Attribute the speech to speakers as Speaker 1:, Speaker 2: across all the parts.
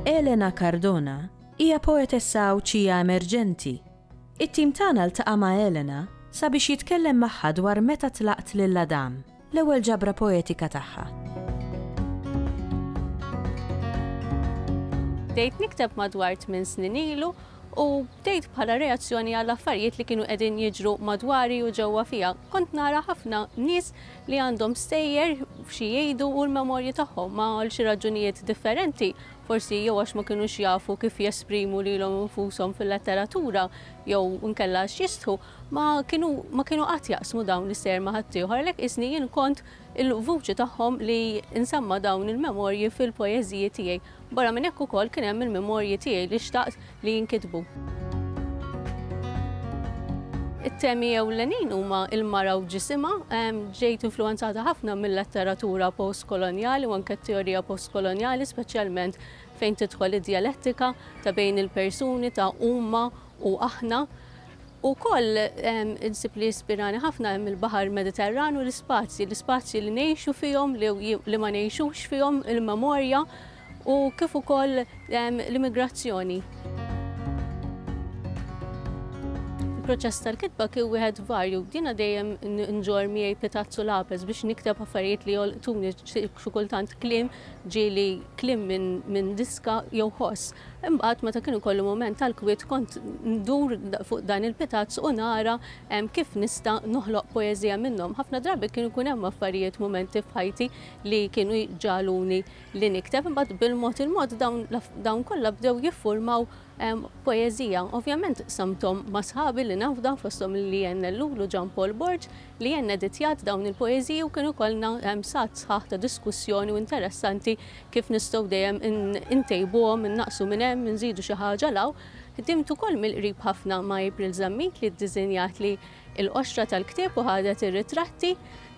Speaker 1: Elena Cardona hija poetessa Għawdxija emerġenti. It-tim tagħna ltaqa' ma' Elena sabiex jitkellem magħha dwar meta tlaqt lil Adam L-ewwel ġabra poetika tagħha.
Speaker 2: Bdejt nikteb madwar tmien snin ilu u bdejt bħala reazzjoni għal affarijiet li kienu qegħdin jiġru madwari u ġewwa fija. Kont nara ħafna nies li għandhom stejjer xi jgħidu u l-memorji tagħhom ma' għal xi raġunijiet differenti, forsi jew għax ma kinux jafu kif jesprimu lilhom infushom fil-letteratura jew nkella x'jistħu, Ma kienu ma kienu qatt jaqsmu dawn is-sejer ma' ħaddieħor, għalhekk qisni jien kont il-vuċi tagħhom li nsemma' dawn il-memorji fil-poeżiji tiegħi. Barra minn hekk ukoll kien hemm il-memorji tiegħi li xtaqt li jinkitbu. It-temi ewlenin huma l-mara u ġisimha. Ġejt influwenzata ħafna mil-letteratura postkolonjali u anke t-teorija postkolonjali speċjalment fejn tidħol id-djalettika ta' bejn il-persuni ta' huma u aħna. Ukoll insib li jispirani ħafna hemm il-Baħar Mediterran u l-ispazji, l-ispazji li ngħixu fihom, li ma ngħixux fihom, il-memorja u kif ukoll l-immigrazzjoni. Il-proċess tal-kitba kien wieħed varju. Jiena dejjem nġorr miegħi pitazz u lapes biex nikteb affarijiet li jolqtuni, xi kultant kliem ġieli kliem minn diska jew ħoss. Imbagħad meta kien ikolli mument tal-kwiet kont ndur fuq dan il-pitazz u nara kif nista' noħloq poeżija minnhom. Ħafna drabi kien ikun hemm affarijiet, mumenti f'ħajti li kienu jġagħluni li nikteb. Imbagħad bil-mod il-mod dawn dawn kollha bdew jiffurmaw poeżija. Ovvjament qsamthom ma' sħabi li nafda fosthom il-Lianne Ellul u Jean Paul Borg li jien editjat dawn il-poeżiji u kienu jkollna sgħat sħaħ ta' diskussjoni u interessanti kif nistgħu dejjem intejbuhom, innaqqsu minn hemm, inżidu xi ħaġa 'l hawn. Ħdimt ukoll mill-qrib ħafna ma' April Zammit li ddiżinjatli l-qoxra tal-ktieb u ħadet ir-ritratti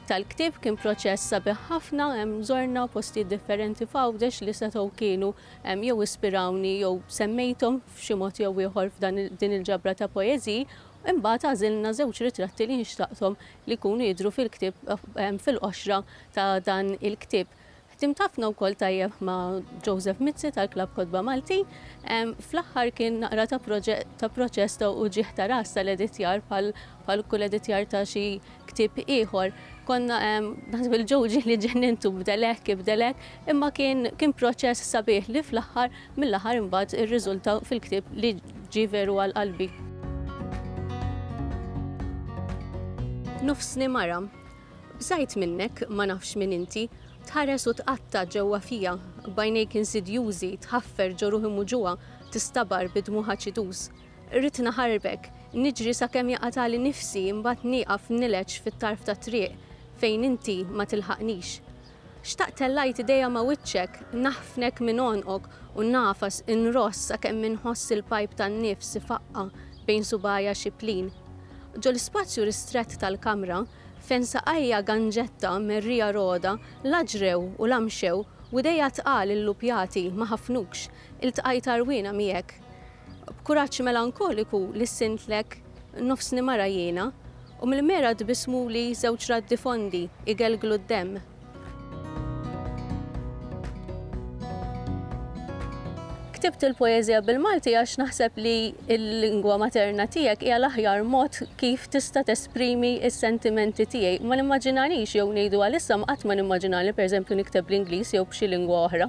Speaker 2: tal-ktieb. Kien proċess sabiħ ħafna, żorna postijiet differenti f'Għawdex li setgħu kienu jew ispirawni jew semmejthom f'xi mod jew ieħor f'dan din il-ġabra ta' poeżiji. Imbagħad għażilna żewġ ritratti li nxtaqthom li jkunu jidhru fil-ktieb fil-qoxra ta' dan il-ktieb. Ħdimt ħafna wkoll tajjeb ma' Joseph Mizzi tal-Klabb Kotba Maltin. Fl-aħħar kien naqra ta' ta' proċess ta' uġigħ ta' ras tal-editjar bħal bħal kull editjar ta' xi ktieb ieħor. Konna naħseb il-Joe ġieli ġennintu bdel hekk, ibdel hekk, imma kien kien proċess sabiħ li fl-aħħar mill-aħħar imbagħad irriżulta fil-ktieb li ġie veru għal qalbi. Nofsni mara. Bżajt minnek, ma nafx min inti. Tħares u tqatta' ġewwa fija, b'għajnejk insidjużi, tħaffer ġo ruħi muġugħa, tistabar bi dmugħ aċiduż. Ridt naħarbek, niġri sakemm jaqatgħali nifsi imbagħad nieqaf nileġġ fit-tarf tat-triq fejn inti ma tilħaqnix. Xtaqt tellajt idejja ma' wiċċek, naħfnek minn għonqok u ngħafas inross sakemm inħoss il-pajp tan-nifs ifaqqa' bejn subgħajja xiplin. Ġol-ispazju ristrett tal-kamra, fejn saqajja ganġetta merrija rogħda la ġrew u la mxew u idejja tqal illupjati ma ħafnukx, iltqajt għarwiena miegħek. B'kuraġġ melankoliku lissintlek, Nofsni mara jiena. U mill-mera tbissmuli żewġ raddi fondi jgelglu d-demm. Ktibt il-poeżija bil-Malti għax naħseb li l-lingwa materna tiegħek hija l-aħjar mod kif tista' tesprimi s-sentimenti tiegħi. Ma nimmaġinanix, jew ngħidu għalissa, qatt ma nimmaġinani pereżempju nikteb bl-Ingliż jew b'xi lingwa oħra.